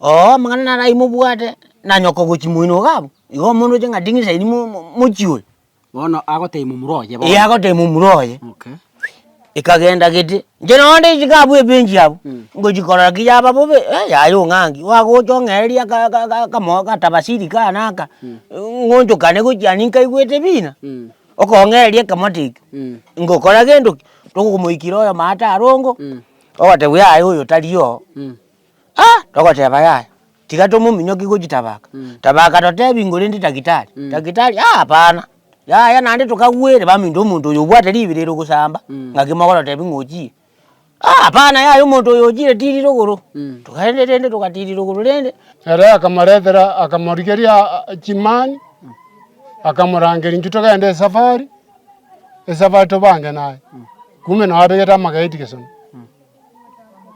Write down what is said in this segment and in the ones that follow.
Oo, amang'ana narai mobwate, na nyoko ogochi moino iga abwo, igo omonto oche ng'a ding'isa eria mo- mo- mochie oyo. Bono agotebia momura oye bono. Ee agotebia momura oye, Okay. ekagenda gete, inche nonya ndisike abwo ebench abwo, Mm. ngochi korora ki yaba bobe, eh yaya ong'angi, oagocha ong'ereria aka- aka- aka- akamo akatabasiri kaa na aka, Mm. ng'onchokane gochia ani nkaigwete bina, Mm. okong'ereria ekamata ekio, Mm. ngokora gento ki, tokomoikera oyo maate arongo, Mm. ogotebiwa yaya oyo tari oo. Mm. Ah! Togoteba yaya, tiga tomominyokie gochitabaka, tabaka totebi ngorende daktari, daktari ah apana, yaya naende tokagwere baminto omonto oyo obwate ribera ere ogosamba, ngaki mogototebi ng'a ochire, ah apana yaya omonto oyo ochire tiri rogoro, togaenda rende togatiri rogoro rende. Ere akamoretera akamorigeria ah chimani, akamorangeria inche togende esafari, esafari tobange naye, kumbe nabegete amageti gesone.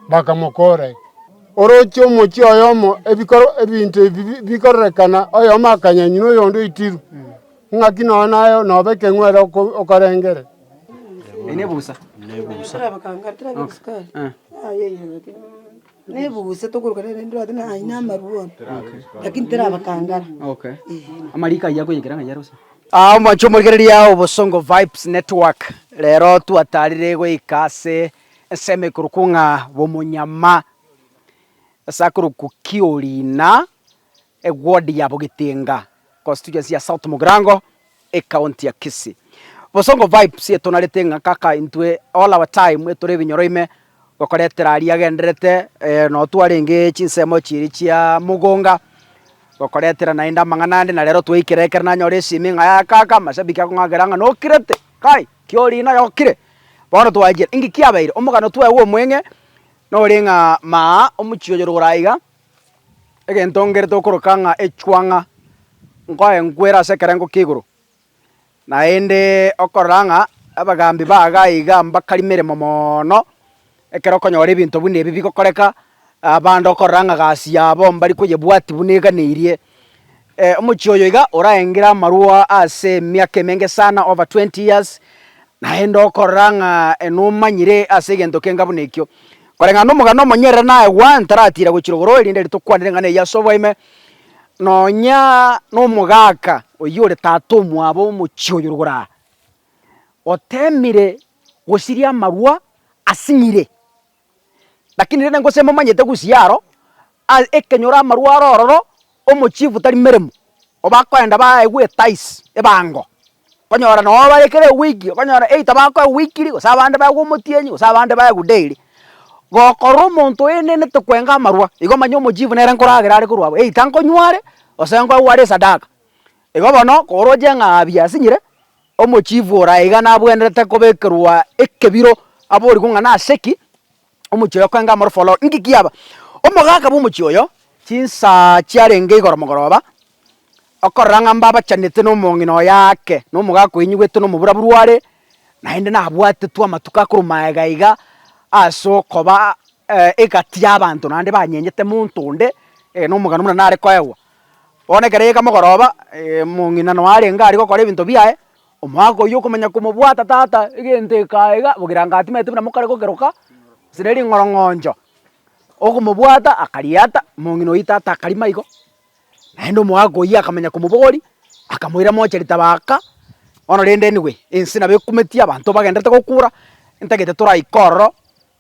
bakamokoora. Oroche omochie oyomo ebinto ebi bikororekana, oyomo akanyanywa, oyonde oitirwe. Ng'aki nonya naye nobe ekeng'u ere okorengere. Nebusa. Amariko ayio akoyekera ng'a yare bosa. Omwancho omorigereria o Bosongo Vibes Network, rero twatarire goika ase Ensemo ekorokwa ng'a Bomonyama, ase akorokwa Kiorina, ewodi ya Bogetenga, constituency ya South Mugirango, ecounty ya Kisii. Bosongo Vibes etonarete ng'a kaka intwe all our time tore ebinyoro ime gokoretera aria agendererete noo twarenge chinsemo chiria chia mogonga gokoretera naende amang'ana ande na rero twaikera ekero nanyora esimi ng'a kaka mashabiki akong'akera ng'a nokirete kai. Kiorino ayokire, bono twachire. Inki kiabeire? Omogano twaigwa omweng'e nore ng'a maa omochie oyo rogoro aiga, egento ngerete okoroka ng'a echwang'a, nkoe nkwere ase ekerengo kia igoro. Naende okorora ng'a abagambi bago aiga mbakarimere momono. Ekero okonyora ebinto buna ebi bigokoreka, abande okorora ng'a gasi yabo mbari koyebwatia buna eganeirie. Omochie oyo iga oraengire amarwa ase emiaka emenge sana, over twenty years, naende okorora ng'a nomanyire ase egento kenga buna ekio. Koreng'ana na omogano omonyerere naye one taratira gochia rogoro erinde riria tokwanire eng'ana eyio ase oboime, nonya na omogaka oyio ore tata omwabo omochie oyo rogoro aa. Gotemire gosiria amarwa asing'ire, lakini rende gose momanyete gusia aro ekenyoro amarwa are ororo omochief tari meremo obakoenda baye gwetaisi ebango okonyora noo bare kera ewiki okonyora either bakoegwa weekly gose abande baegwe omotienyi gose abande baegwe daily. Gokorora omonto oenenete kwenga amarwa igo omanye omochief nere nkoragera are korwa abwo either nkonyware gose nkoegwe are esadaka. Igo bono kooroche ng'a biasinyire, omochifu oraye iga nabwenerete kobekerwa ekebiro aborigwe ng'a nase ki omochie oyo okoenga amorofu oloro. Inki kiaba? Omogaka bw'omochie oyo, chinsaa chiarenge igoro mogoroba, okorora ng'a mbabachanete nomong'ina oye aake, na omogaka oyo ainyigwete na omobura buru are, naende nabwatetwe amatuko akorwa magega iga ase okoba egati y'abanto naende banyenyete monto onde, ee nomogano buna nare koegwa. Bono ekero yaika mogoroba, omong'ina nonya arenge aria gokora ebinto biaye, omwaka oyio okomanya komobwata tata, egento eka iga, bogirango atimanyeti buna mokare gokeroka, gose ne ring'orong'oncho, okomobwata akariata, omong'ina oyio tata akarima igo, naende omwaka oyio akamanya komobogoria, akamoira moche ritaba aka, bono rende anyway, ense nabo ekumeti abanto bagendererete gokura, ntagete toraike ororo,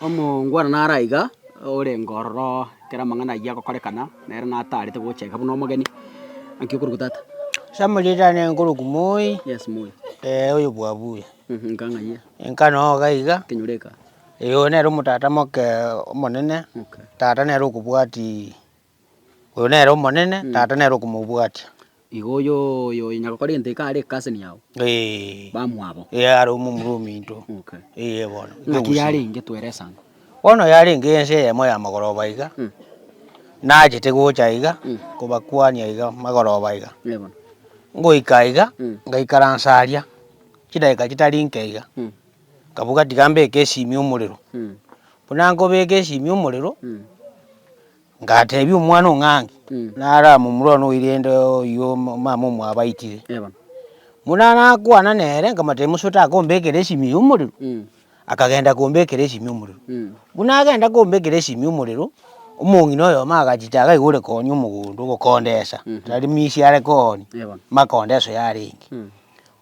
omongwana naro aiga, orenge ororo ekero amang'ana ayio agokorekana, nere natarete gocheka buna omogeni, naki okorokwa tata? Samuel tane nkorokwa moi. Yes moi. Eeh oyo bwabuya. Nka ng'ayie. Nka noo iga iga. Kenyoro eka. Eeh oyo nere omotata moke omonene. Okay. Tata nere okobwati. Oyo nere omonene, Mm. tata nere okomobwatia. Igo oyo oyo onya gokora egento eke are cousin yao, Eeh, bamwabo. ee are omomura ominto, Okay. eye bono. Naki yarenge twere esango. Bono yarenge ense eyemo y'amagoroba iga, Mm. nachete gocha iga, Mm. kobakwania iga magoroba iga. Ee bono. Ngoika iga, Mm. ngaikaransa aria, chidakika chitari inke iga, Mm. Nkaboka, Tiga mbeke esimi omorero. Buna nkobeka esimi omorero, ngatebia omwana ong'angi, naramomurore one oire rende oyio omama omwabaitire. Buna nakwana nere, nkamotebia musa otakombekera esimi eye omorero, akagenda kombekera esimi omorero. Buna agenda kombekera esimi omorero, omong'ina oyomo agachia taga iga ore koonia omogondo, ogokondesa, tari misia are koonia, makondeswa yarenge.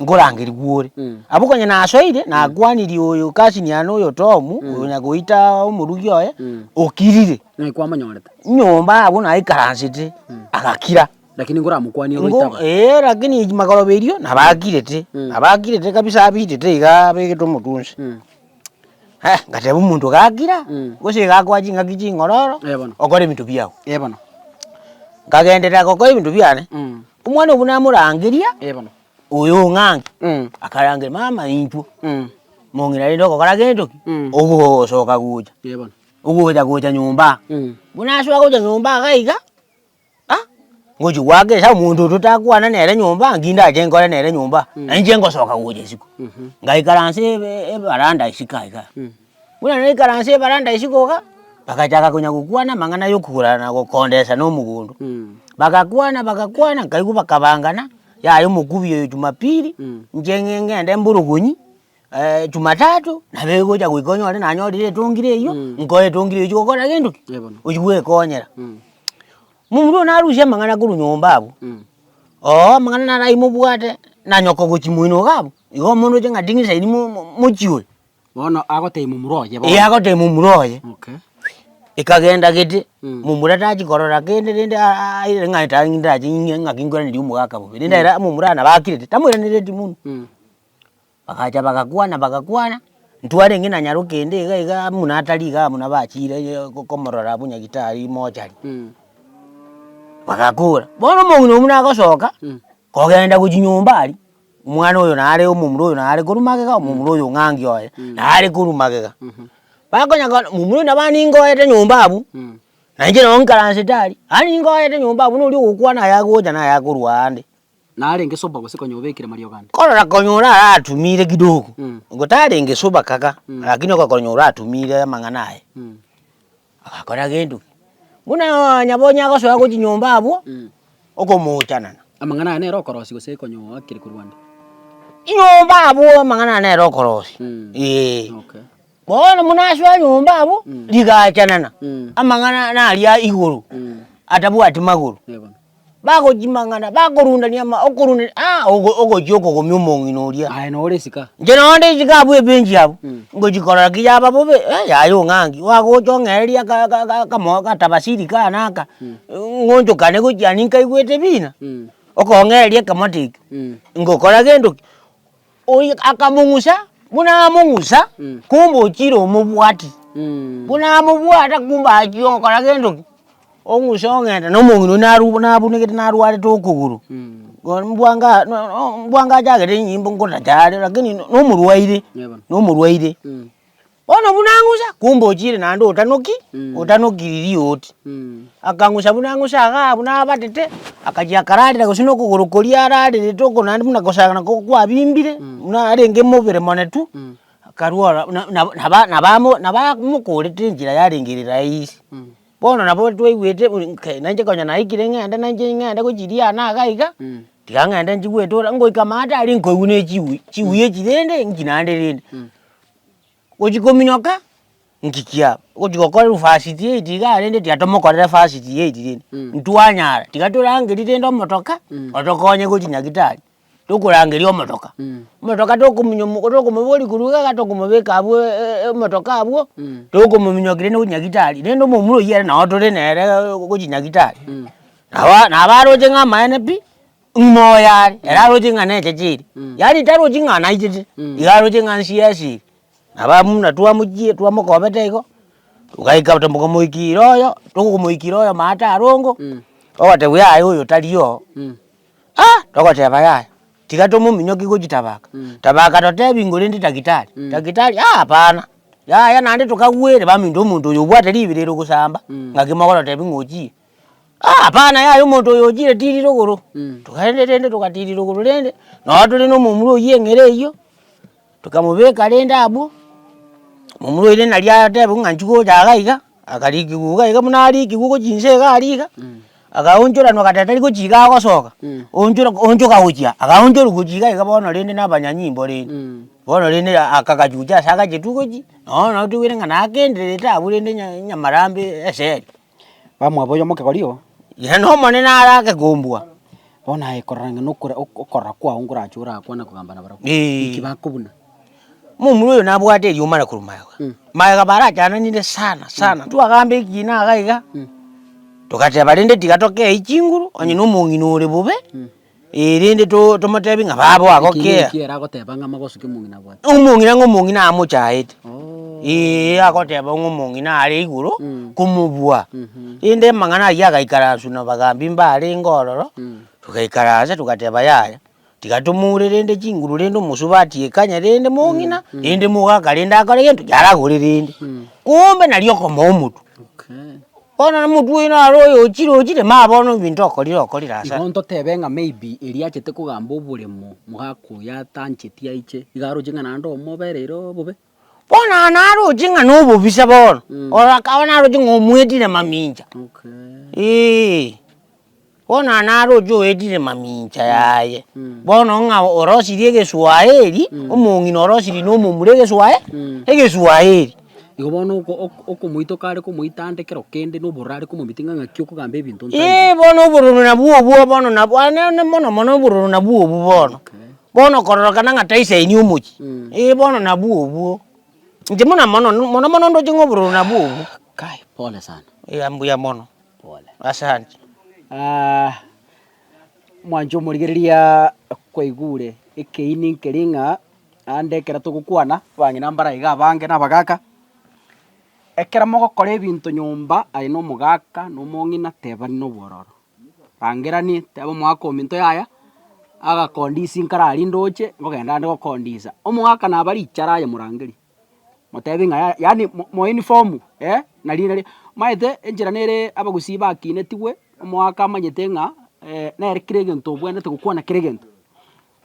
nkorangeria gwore. Mm. Abwo konya nasoire, nakwanirie oyo cousin yane oyo Tom, oyo onya goita omorugi oye, Mm. okirire. Ng'ai kwamonyorete? Nyomba abwo naikaransete, agakira. Lakini nkoramokwanie Ngo, goitaba. ee, lakini magoroba erio, nabakirete. Mm. Nabakirete kabisa abitete iga abegete omotunsi. Mm. Eh, ngateba omonto gakira, Mm. gose iga akoa ching'aki ching'ororo, Eh, bono. okora ebinto biao. Eh, bono. Nkagenderera gokora ebinto biane, Mm. Omwana obo namorangeria, Oyo ong'anke? Akarangeria, Mama intwo mong'ina rende ogokora gento ki? Ogosoka gocha, ogocha gocha nyomba aa. Bwe nasoa gocha nyomba aa iga iga, ah, ngochia goaka esao, omonto oyo totakwana nere nyomba aa, nki ndache nkore nere nyomba aa? Nainche ngosoka gocha isiko. Ngaikaransa evaranda isiko aiga. Buna naikaranse ebaranda isiko iga, bagachaka konya gokwana amang'ana y'okogorana na gokondesa na omogondo. Bagakwana bagakwana nkaigwa bakabangana, yaya omokubi oyo Jumapili, inche ng'e ng'ende mborogonyi, Jumatatu nabo egocha goika onyore nanyorire etongire eywo, nkoe etongire eywo chigokora gento ki? Oywo gwekonyera. Momura oyo narusia amang'ana korwa nyomba abwo, oo amang'ana naraimobwate, na nyoko gochia moino iga abwo, igo omonto oche ng'a ting'isa ini mo- mo- mochie oyo. Bono agotebia momura oye bono. Ee agotebia momura oye. Okay. Ekagenda gete, mm. momura tachi korora kende rende aaaire ng'a etae ndache ing'e ng'aki nkweraneria omogaka bobe. Rende ere momura nabakirete, tamoiranereti buna. Mm. Bagacha bagakwana bagakwana, ntwarenge na nyarokende iga igaa muna atari igaa muna bachire ee komorora abwo nyagitari mochari. Mm. Bagakora, bono omong'ina oywo buna agosoka, mm. kogenda gochi nyomba aria. omwana oyo nare omomura oyo nare korwa magega, omomura oyo ng'angi oye nare korwa magega. Bakonya kore momura oyo nabo ningoete nyomba abwo, na inche nabo nkaransete aria, aye ningoete nyomba abwo noria ogokwana aya agocha na aya akorwa ande. Narenge sober gose konya obekire mariogo ande. Korora konya ore aratumire kidogo, gotarenge sober kaka, lakini okonya oratumire amang'ana aye. Agakora gento ki? Buna onye bonye agosoa gochia nyomba abwo, okomoochanana. Amang'ana aya nere okorosia gose ekonyoo akire korwa nde? Nyomba abwo amang'ana aya nere okorosia. Mm. Ee. Okay. Bono buna asoa nyomba abwo, Mm. rigaachanana, Mm. amang'ana naria igoro, Mm. atabwati magoro. Yebo. bagochimang'ana, bakorundania ama okorundania aa ogo ogochia okogomia omong'ina oria. Aye nore esika. Inche nonya nde esika abwo ebench abwo, Mm. ngochia korora ki yaba bobe, eh yaye ong'angi, oagocha ong'ereria aka aka aka akamo katabasiri kaa na aka, Mm. ng'onchokane gochia ninkaigwete bina, Mm. okong'ereria ekamata ekio, Mm. ngokora gento ki, Oyio akamong'usa, buna among'usa, kumbe ochire omobwati. Buna amobwata kumbe achia ogokora gento ki? Ong'usa ong'enta na omong'ina oyio naru nabunekete narwarete okogoro. Bono mbwa nga no- no mbwa ngachagete enyimbo ngotacha are lakini no- nomorwaire, nomorwaire. Bono buna ang'usa, kumbe ochiire naende otanoki, otanokiri rioti. Akang'usa buna ang'usa igaa buna abatete, akachia akararera gose na okogoro koria ararerete oko naende buna kosagana ko kwabimbire, buna arenge mobere mone tu, akarwa ora na- na- naba nabamo nabamokorete enchera yarengerera aye ise. Bono nabo twaigwete buna nkai nainche konya naikire ng'ende nainche ng'ende gochiria aane iga iga, tiga ng'ende nchigwete ore, ngoika amaate aria nkoigwa ne chigui, chigui echi rende nki naende rende. gochia kominyoka nki kiabo, ogochia gokora university eye tigaa rende tiga tomokorere varsity eye rende, Mm. ntwanyara tiga torangerie rende omotoka Mm. otokonye gochia nyagetari, tokorangeria omotoka, Mm. omotoka tokominyo mo tokomoboria korwa iga iga tokomobeka abwo e- e- e- omotoka abwo, Mm. tokomominyokia rende gochia nyagetari, rende omomura oyio ere nao tore nere gochia nyagetari, Mm. naba nabaroche ng'a amaene pi. Ng'uma oye are, ere aroche ng'a neche chiri, yaani tarochi ng'a naitete, iga aroche ng'a nsie asiri, nabo abamuna twamochie twamokobete igo, togaika tomokamoikira oyo, tokomoikira oyo omanyete arongo, ogotebiwa yaya oyo tari oo, ah! togoteba yaya, tiga tomominyokie gochia tabaka, tabaka totebi ng'a orende daktari, daktari ah hapana, yaya naende tokagwere baminto omonto oyo obwate ribero ere gosamba, ng'aki mogototebia ng'a ochire, Ah hapana yaya omonto oyo ochire tirire ogoro, togaenda rende togatirira ogoro rende, nonya tore na omomura oywo eng'ere eywo, tokamobeka rende abwo, omomura oire nari atebe ng'a nchi gocha iga iga, akarikigwa iga iga buna arikigwa ogochia inse iga aria iga, agaonchoranwa gata tari gochia iga agosoka, onchora onchoka gochia agaonchorwa gochia iga iga bono rende na abanyanyimbo rende, bono rende akagachucha ase agache tu gochia, nonya notobwate ng'a nagendererete abwo rende nya nyamarambe esegi. Bamwabo oyomo kegori oo. Inee, n'Omonene arake kombua? Bono aye korora ng'a nokore ok- okorora kwao nkorache orakwane kogamba nabarabwo. Eeh. Nki bakobuna? Momura oyo nabwate eriomana korwa magega. Mm. Magega barachananire sana sana, twagamba ekina iga iga, Mm. togateba rende tiga tokei chinguru, onye na omong'ina ore bobe, Mm. Ee, rende to, tomotebi ng'a baba Eki agokea. niki eragoteba ng'a amagoso ki'omong'ina abwate. Omong'ina ng'a omong'ina amochaete. Oh. Ee, agoteba ng'a omong'ina are igoro Mm. komobua. Mhm. Rende amang'ana ayio agaikara ase na abagambi mbarenge ororo, Mm. togaikara ase togateba yaya, tiga tomoure rende chinguru rende omosubati ekanye rende mong'ina, rende mogaka rende akore gento yaragore rende. Mm. Kombe nario okomoa omotwe. Bono na omotwe oino are oyochire ochire ma bono ebinto okorire okorire ase. Igo ntotebe ng'a maybe eria achete kogamba oboremo mogaka oyo atancheti aiche iga aroche ng'a naende omobe ere ere obobe. Bono aye naroche ng'a na obobisa bono, ororo akaba naroche ng'a omwetire mamincha. Eeh. Bono aa naroche oetire mamincha yaye, bono ng'a orosirie egeswaeri, omong'ina orosirie na omomura egeswae egeswaeri. Igo bono oko oko okomoita okare komoita ande kero kende, na obororo are komomintia ng'a ng'aki okogamba ebinto nta nta. Eeh bono obororo nabwo obwo bono nabwo aye ne ne mono mono obororo nabwo obwo bono. Bono kororokana ng'a taisainia omochie, eeh bono nabwo obwo. Inche buna mono mono mono ndoche ng'a obororo nabwo obwo. Kai pole sana. Eeh mbuya mono. As'enchwo mwanche omorigereria kwaigure ekeini nkeria ng'a aande ekero togokwana abang'ina mbare aiga abange na abagaka, ekero mogokora ebinto nyomba aye na omogaka na omong'ina tebani na obwororo. Rangerania teba omogaka ominto yaya agakondisia nkararinde oche, ngogenda aande gokondisia. Omogaka naba richara aye morangerie, Motebi ng'a ya yaani mo moinform eh, nariina ri maete enchera nere abagusii bakinetigwe, omoaka amanyete ng'a nere kera egento obwenerete gokwana kera egento.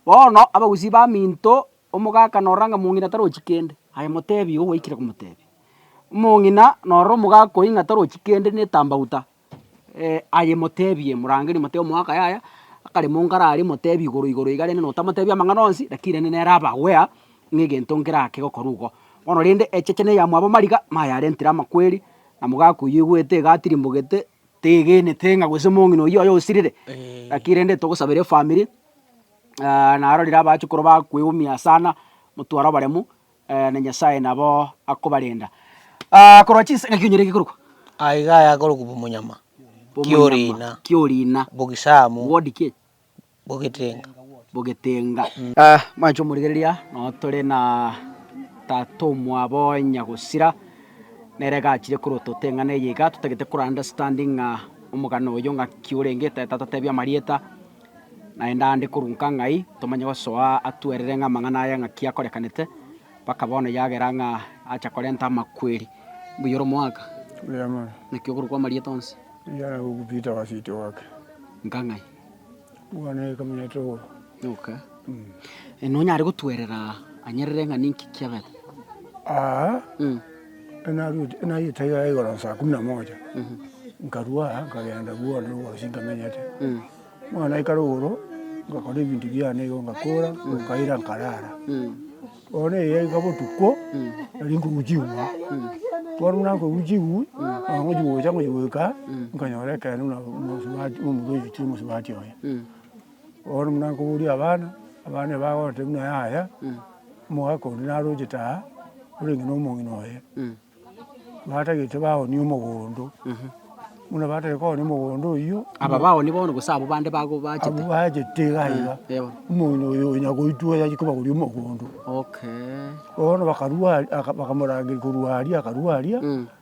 Bono abagusii baminto, omoka akanora ng'a mong'ina tarochi kende, aye motebi igo gwaikire komotebia. Omong'ina noro omogaka oyio ng'a tarochi kende na etambauta. aye moteebie morangeri moteebie omogaka yaya, akaremwa ongare aria moteebie igoro igoro iga rende notamoteebia amang'ana onsi, rakini rende nere abagwea ng'a egento nkerake gokora igo. Bono rende echeche na eyamwabo mariga, mayarentire amakweri, na mogaka oyio oigwete iga atirimbogete, tegenete ng'a gose omong'ina oyio oye osirire, rakini rende togosabera efamiri, naro riria abachukoro bakwegumia sana, motware obaremu. na Nyasae nabo akobarenda. Korwa chinsa, ng'aki onyore gekorokwa? Aye iga ayakorokwa bomonyama, kiorina, kiorina, bogisamu, word ki? bogetenga. bogetenga. Mwanche omorigereria, noo tore na tata omwabo onya gosira, nere iga achire korwa ototeng'ana eye iga, totagete kora understanding ng'a omogano oyo ng'aki orenge, toteba amarieta, Naende aande korwa nka ng'ai tomanye gosoa atwerire ng'a amang'ana aya ng'aki akorekanete, mpaka bono yagera ng'a acha korenta amakweri. Mbuya ore omoaka, naki okorokwa amarieta onsi? Nka ng'ai? Nonyare gotwerera anyerere ng'a ninki kiabete? Aa, naruete, nayete iga igoro saa kumi na moja, nkarua aa nkagenda bono egosii ntamenyete, bono naikare igoro, ngakora ebinto biane igo ngakora, nkaira nkarara. Bono eria iga botuko, nari nkorwa ching'we, bono buna nkorwa ching'we, nabo ngochia gocha ngochia goika, nkanyora ekeene buna omosubati, omorwoti omosubati oye. Bono buna nkoboria abana, abana eba bagoteba buna yaya, omogaka onde narochete aa, orenge na omong'ina oye, batagete baoonia omogondo, buna batagete koonia omogondo oyio, Aba baoonia bono gose abwo bande bago bachete? abwo bachete iga iga, Yebo. omong'ina oyo onya goitwa oyo aye kobagoria omogondo. Okay. Bono bakarua aria, aka- bakamorangeria korwa aria, akarua aria,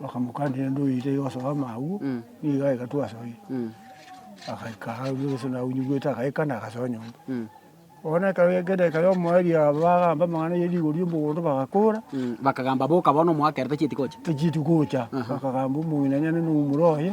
Bakamokanera ende oite iga osoe amaagwa, nigo aye gatwa asoire. Agaikara aria gose naunyigwete agaikana agasoa nyomba. Bono ekero ekeyo edageka ya omoerio aba bagamba amang'ana ye rigori ya omogondo bagakora, Bakagamba, Boka bono, omwaka ere tachieti gocha. tachieti gocha, bakagamba omong'ina nyane noumore oye.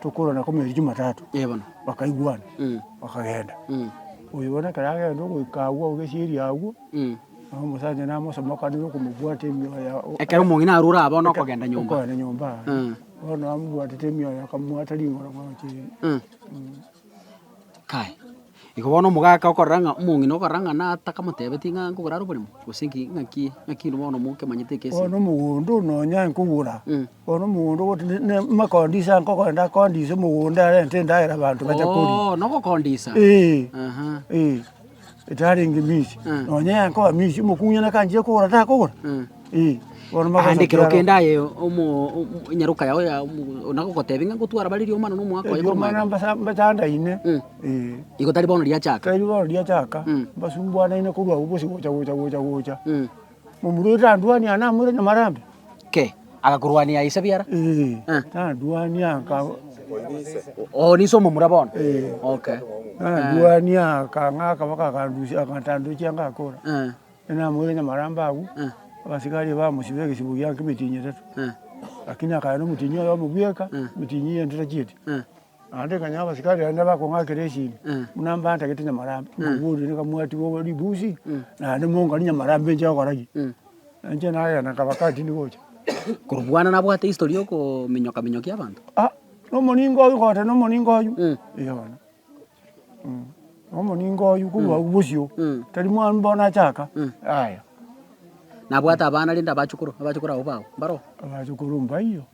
tokorwa na komeeri Jumatatu, bakaigwana bakagenda. Oyo bono ekero agenda ogoika agwo ogesieri agwo, nabo omosacha namosomokanere okomobwata emioyo yabo. Ekero omong'ina arure aba bono okogenda nyomba. Okogenda nyomba aa. Bono amobwatete emioyo akamobwata ring'oro bwango chire. Kai. Igo bono omogaka okorora ng'a omong'ina okorora ng'a natakamotebetie ng'a nkogora are oboremo, gose nki, ng'aki, ng'aki inwe bono mokemanyete ekesinto? Bono omogondo oyo nonya nkogora, bono omogondo ogote ne- ne- makondisia nkogenda kondisia omogondo arente endagera abanto bache koria. Oo, na ogokondisa? Ee. Aha. Ee, etarenge minsi. Nonya yankoa minsi, omokungu onye nakanchire kogora, takogora? Aande ekero kende aye nyaroka yao ya nagogoteebia ng'a ngotwara bare riomana na omogaka oye korwa maega. Riomana mbatandaine. Igo tari bono riachaka. Tari bono riachaka. Mbasumbuanaine korwa agwo gose gocha gocha gocha gocha. Momura oria tandwania namorete na marambe. Kei? Agakorwania ise biara? Tandwania. Oo niso omomura bono? Tandwania akang'aka mpaka akandusia akantandochia ngakora. Namoire nyamarambe agwo, abasigari bamosiba egesibo gia nkemetinyi etato, lakini akaya nomotinyi oye omobweka, emetinyi eye ntorachieti. Naende ekanyora abasigari aria nabakong'akera esini, buna mbantagete nyamarambe, mbabori rende kamwatiga obo ribusi, naende monganie nyamarambe nche gokora ki? Inche nagenda nkaba kantini gocha. Korobwana nabwate history ya okominyoka minyokia abanto? Ah, nomoninga oyio, kogoteba nomoninga oyio, eeh bono. Nomoninga oyio korwa agwo bosio, tari mwana mbao nachaka, yaya. Nabwate abana rende abachukoro, abachukoro abwo bago, mbaro? Abachukoro mbaiyo,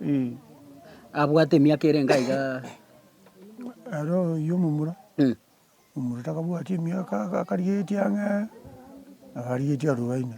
eh. Abwate emiaka ere enga iga? Aro oyio omomura, omomura takabwati emiaka, akarigetie ang'e, akarigetie arobaine.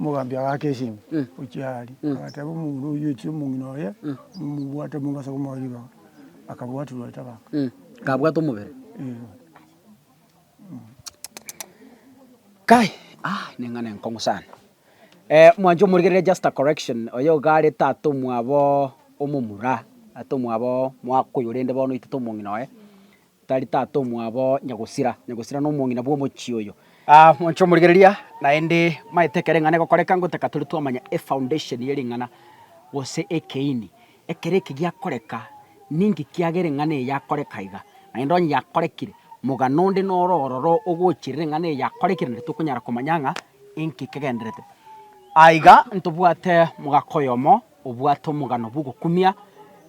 Omogambi agaaka esimi gochia aria, agateeba omong'ina oyio, Echi omong'ina oye momobwate omonto ase okomoa ribaga, akabwatirwa ribaga. Akabwata omobere. Kai, ah, neng'ana enkong'u sana. mwancha omorigereria just a correction, oyo iga are tata omwabo omomura, tata omwabo mwaka oyo rende bono oitete omong'ina oye. Tari tata omwabo nyagosira, nyagosira nomong'ina bw'omochie oyo. Aa, monche omorigereria, naende maete ekero eng'ana egokoreka ngotaka tore twamanya efoundation ye ring'ana, gose ekeini, ekero eke giakoreka, ninki kiagera eng'ana eye yakoreka iga. Naende onye yakorekire, mogano onde noro ororo ogochirera eng'ana eye yakorekire naende tokonyara komanya ng'a inki kegenderete. Aiga ntobwate mogaka oyomo obwate omogano bw'ogokumia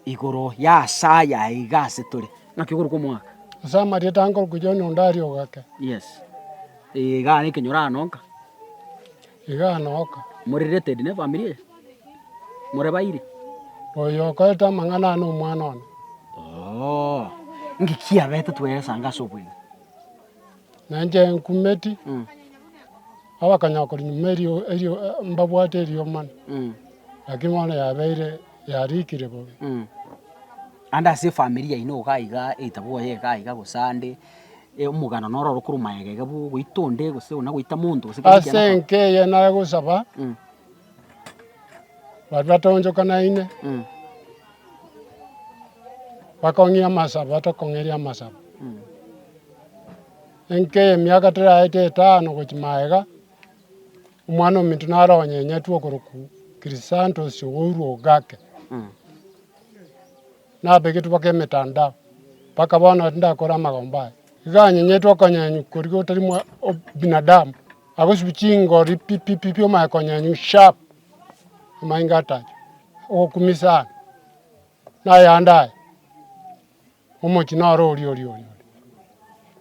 igoro y'aase aya aiga ase tore. Naki okorokwa omwaka. Ase amarieta a nkorokwa John Ondari ogake. Yes. Ee, iga are ekenyoro aa noka. Iga aa noka. More related ne family eye? More bairi? Oyo okorete amang'ana aa nomwana one. Oo. Inki kiabete tweresa anga ase obweng'e? Na inche nkumeti abakanyakori nyuma erio mbabwate eriomana, lakini bono yabeire yarikire bobe. Ande ase efamiri yaino iga iga etabwo yaye iga iga gose ande omogano noro oro korwa magega iga bwo ogoita onde gose ona goita monto gose kende ekiagera. Ase enka eye nare gosaba. Baria batoonchokanaine bakong'ia amasabo, batokong'eria amasabo. Enka y'emiaka teraete etano gochia magega, omwana ominto naro onyenyetwe okorokwa Krisantos ogourwa ogake. nabegetwe baka emetandao, mpaka bono ere ndakore amagomba aya. Iga anyenyetwe okonyenywa koria gotari mwa obinadamu, agosibia chingori pi pi pi pi omanye konyenywa sharp, amayenga atacha ogokumia sana, na ayande aya, omochie noro oria oria oria oria.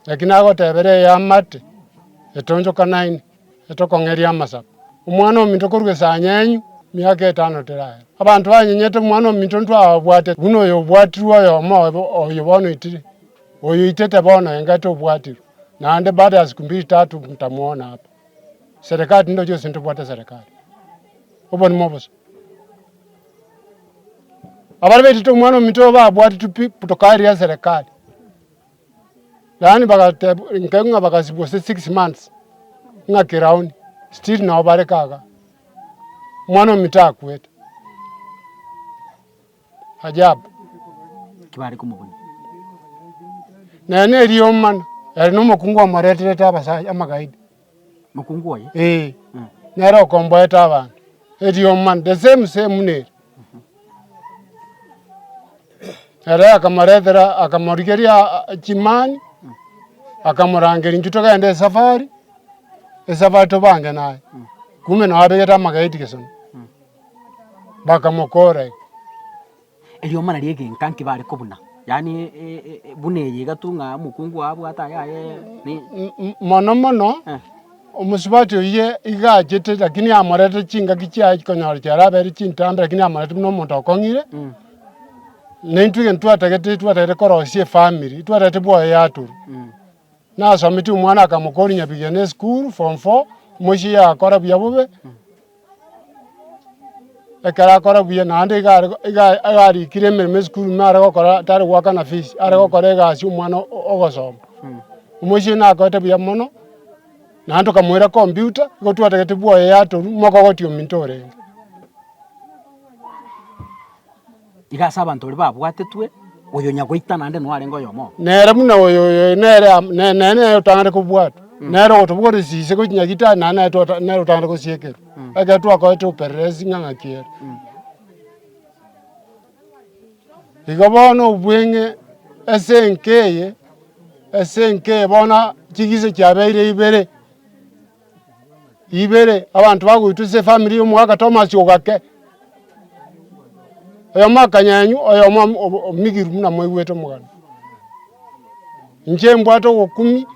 Lakini nagotebera eye amate, etonchokanaine. etokong'eria amasaku. Omwana ominto korwa esanya enyu, miaka etano teraere. Abanto banyenyete omwana ominto ntwababwate, buna oyo obwatirwe oyomo obo oyo bono oitire. Oyo oitete bono engati obwatirwe, naende baada ya siku mbiri tatu ntamwona apa. Serikali tindoche gose ntobwate serikali. Obonima obosa. Abare baitete omwana ominto oyo babwatitwe pi, tokaria serikali. Yaani bagateeb inke ng'a bagasi gose six months ng'a keraoni still nao bare kaga omwana omito akwete ajabu. Ki bare komobonia? Naye neriomana ere nomokungu omoreterete abasacha amagaidi. mokungu oye. Ee, nere okomboeta abanto, erioma the same same nere. Ere akamoretera akamorigeria ah, chimani, akamorangeria intwe togende esafari, esafari tobange naye. Kumbe nababegete amageti gesona, bakamokora iga. Eriomana ri'egenka nkebare kobuna, yaani buna eye iga tu ng'a omokungu oo abwate aya aye ni. Mono mono omosubati oyio iga achete, lakini amorete chingaki chiaye chikonyora chiare abere chintambe, lakini amorete buna omonto okong'ire. Naintwe egento twatagete, twatagete korosia efamiri, twatagete bwoyaturu. Nasometie omwana akamokooria nyabigena esukuru, form four, mochie yakora buya bobe, ekero akora buya naende iga are iga iga arikire emeremo esukuru nare gokora tari goakana fees, are gokora egasi omwana o- ogosoma. Mochie nakorete buya mono, naende tokamoira computer, igo twatagete bwoye yatorwa, moka ogotiga ominto orenge. Iga ase abanto baria babwatetwe, oyo nyagoita naende noarenge oyomo oo. Nere buna oyo oyoyio nere amo nere nere otang'ane kobwatwa, nere ogotobogoria chisiche gochia nyagitari naende naye twata nere otang'ane gosiekerwa, ekero twakorete opererezi ng'a ng'aki ere. Igo bono obweng'e ase enka eye ase enka eye bono chigise chiabeire ibere. ibere abanto bagoitwa ase efamiri ya omogaka Tomasi ogake. Oyomo akanyenyu oyomo omigiru buna moigwete omogano. Inche mbwate ogokumi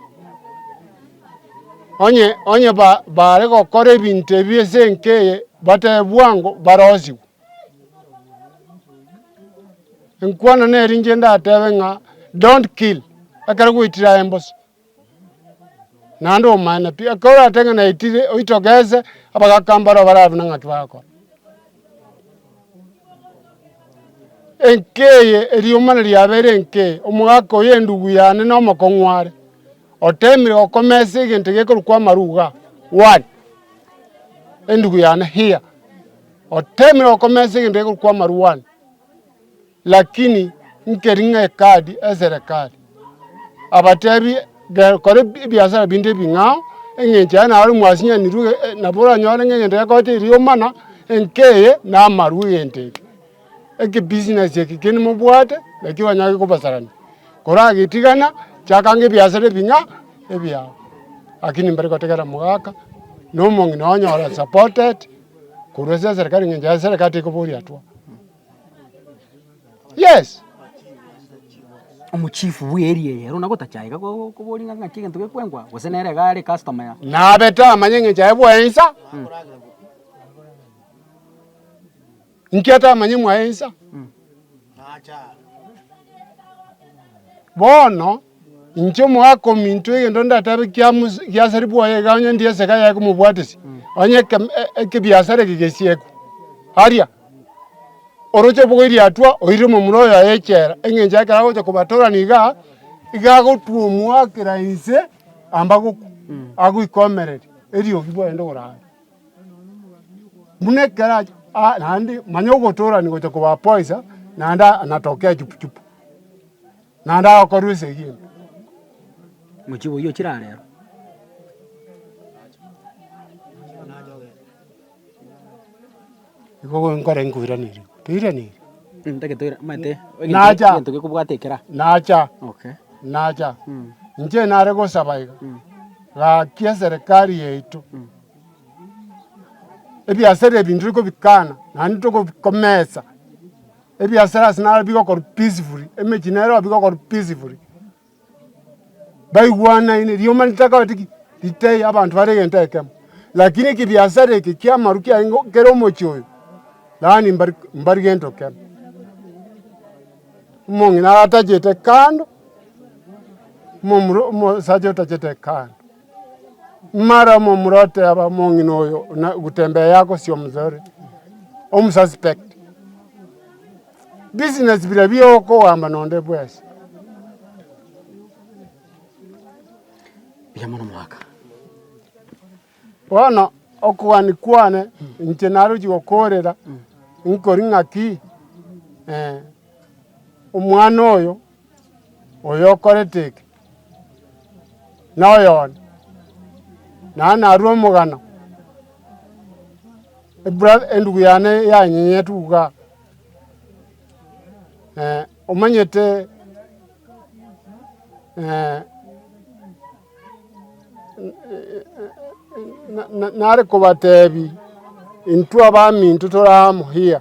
onye onye ba bare gokora ebinto ebi ase enka eye batebe bwango barosigwe. Enkwana neri inche ndatebe ng'a don't kill ekero gwaitire aye mbosa. naende omanyene pi, ekero oratebe ng'a naitire oitoke ense, abagaka mbaro barabe buna ng'aki bagokora. Enka eye erioma na riabeire enka eye, omogaka oyo endugu yane na omokong'u are, otemire gokomesa egento gekorokwa amaruga, one, endugu yane here, otemire gokomesa egento gekorokwa amaru one. Lakini nkeri ng'a ekadi eserekari. Abatebi, Kora ebiasara binde ebing'ao, engencho yaye naro mwasinyanirwe, nabo oranyore ng'a egento gekoete erio omana, enka eye namarwa egento eke. Eki business eke kende mobwate, naki oranyore kekobasarani. Koragetigana, chakanga ebiasara ebing'a, ebiao. Lakini mbare gotegerera mogaka, nomong'ina onyora supported, korwa ase eserekari engencho eserekari tekoba oriatwa. Yes. Omochifu bw'eria eyero na gotachaika ko- koboria ng'a ng'aki egento gekwengwa, gose nere iga are customer ya. Nabe tamanya eng'encho yaye bwaye insa. Inki atamanye mwaye insa? Bono. Inche omogaaka ominto, egento ndatebe kia giaseri bwaye iga onye ndi esege yaye komobwatesia, onye ekebiasara eke gesiekwe, aria oroche obogoyi riatwa oirire omomura oyo yaye echela, eng'encho ekero agocha kobatorania iga, iga agotuomwa kera inse amba gokwa, agoika omereri eriogi bwaye rinde korara. Buna ekero acha aa naende manya ogotorani gocha koba poisa naende anatoke echupu chupu. Naende agakorwa esegimbe. Mochibi oyio ochire arero. Igo nkore nkoiraneria. Toiraneiri? Ntake toire, mate. Nacha. Egento gekobwata ekera. Nacha. Okay. Nacha. Mm. Inche nare gosaba iga. Mm. Gaki eserikali yaito. Mm. Ebiasara ebinto tokobikana, naende tokobikomesa. Ebiasara ase naro bigokorwa peacefully, emechie nero nabo bigokorwa peacefully, baigwanaine, rioma ritakabati ki? Ritaiyo, abanto bare egento ekemo. Lakini ekebiasara eke kia amaru kiaye nigo kere omochie oyo, yaani mbari mbari gento kemo. Omong'ina atachete kando, momura omosacha otachete kando. Mara omomura oteeba, Omong'ina oyo gutembea yagosia omosore, omususpect. Business bire bia okogamba nonde bwes. Buya mono mwaka. Bono okogani kwane inche narochi gokorera nkori ng'aki eh, omwana oyo, oyo okorete eke. noyone, naye narue omogano, endugu yane yanyenyete uga, omanyete nare kobatebi intwe abaminto tore amo here.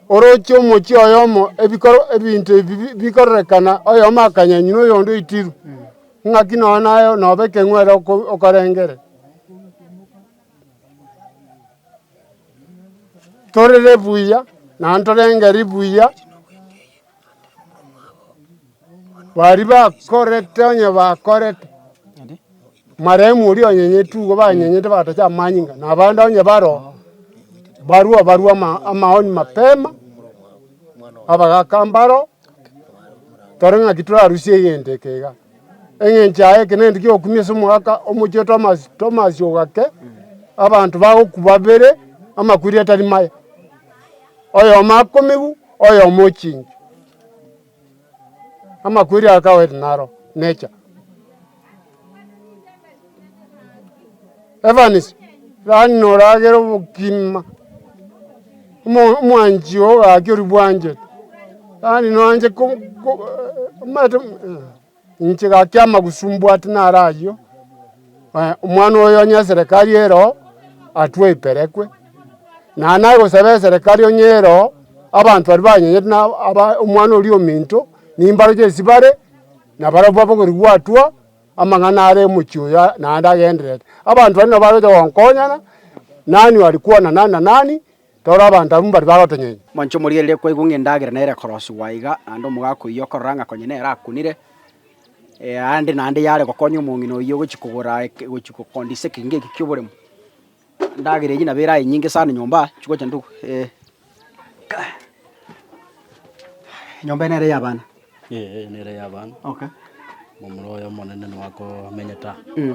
Orochie omochie oyomo ebinto ebi bikororekana, oyomo akanyanyinwa, oyonde oitirwe. Ng'aki nonya naye nobe ekeng'were okorengere. Torere buya, naende torengeri buya. Baria bakorete onye bakorete, marehemu oria onyenyete igo banyenyete batache amanyinga ing'ana, na abande onye baro barua barua amaoni mapema, abagaka mbaro, tore ng'aki torarusie egento eke iga. Eng'encho yaye eke nento giokumia ase omogaka omochie Tomasi, Tomasi ogake, abanto bagoku babere amakweri atari maya. oyomo akomegu, oyomo ochingi. Amakweri aya kawete naro necha. Evans, rani noragere obokima, omo- omwanchi oo gaki oribwanchete, rani noanche ko- ko- omanyete. Inche gaki amagusu mbwate naro ayio, omwana oyo onye eserekari ero atwe oiperekwe. Na naye gosaba eserekari onye ero abanto baria banyenyete na aba omwana oria ominto, nimbaroche ase bare, na barabwo abagori gwatwa, amang'ana are omochie oyo naende agenderere. Abanto baria nabo bare gocha gonkonyana, nani ore kwana nani na nani, Rora, abanto abwo mbari bagotonyenya. Monche omorigererie kwaigwa ng'a endagera nere korosigwa aiga, naende omogaka oyio okorora ng'a konya nere akunire, aande naende yare gokonya omong'ina oyio ogochia kogora gochia gokondisia ekerengo eke ki'oboremu. Endagera eyio nabo eraye nyinge sana nyomba aa chigocha nyomba eye nere y'abana. Ee, nere yaba Okay. momura oye omonene nigo akomenyete aa. Mm.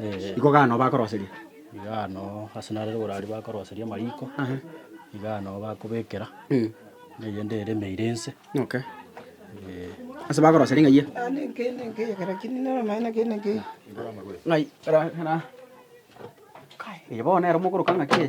Ee, Iko gano bakoroseria. iga ano ase nare igoro aria bakoroseria amariko, Aha. iga ano bakobekera Mm. na eyende eremeire ense. Okay. Ee, Ase bakoroseria ng'ai eye? Ng'ai, kara- kara- Kai, eye bono nere omokoroka ng'aki eye.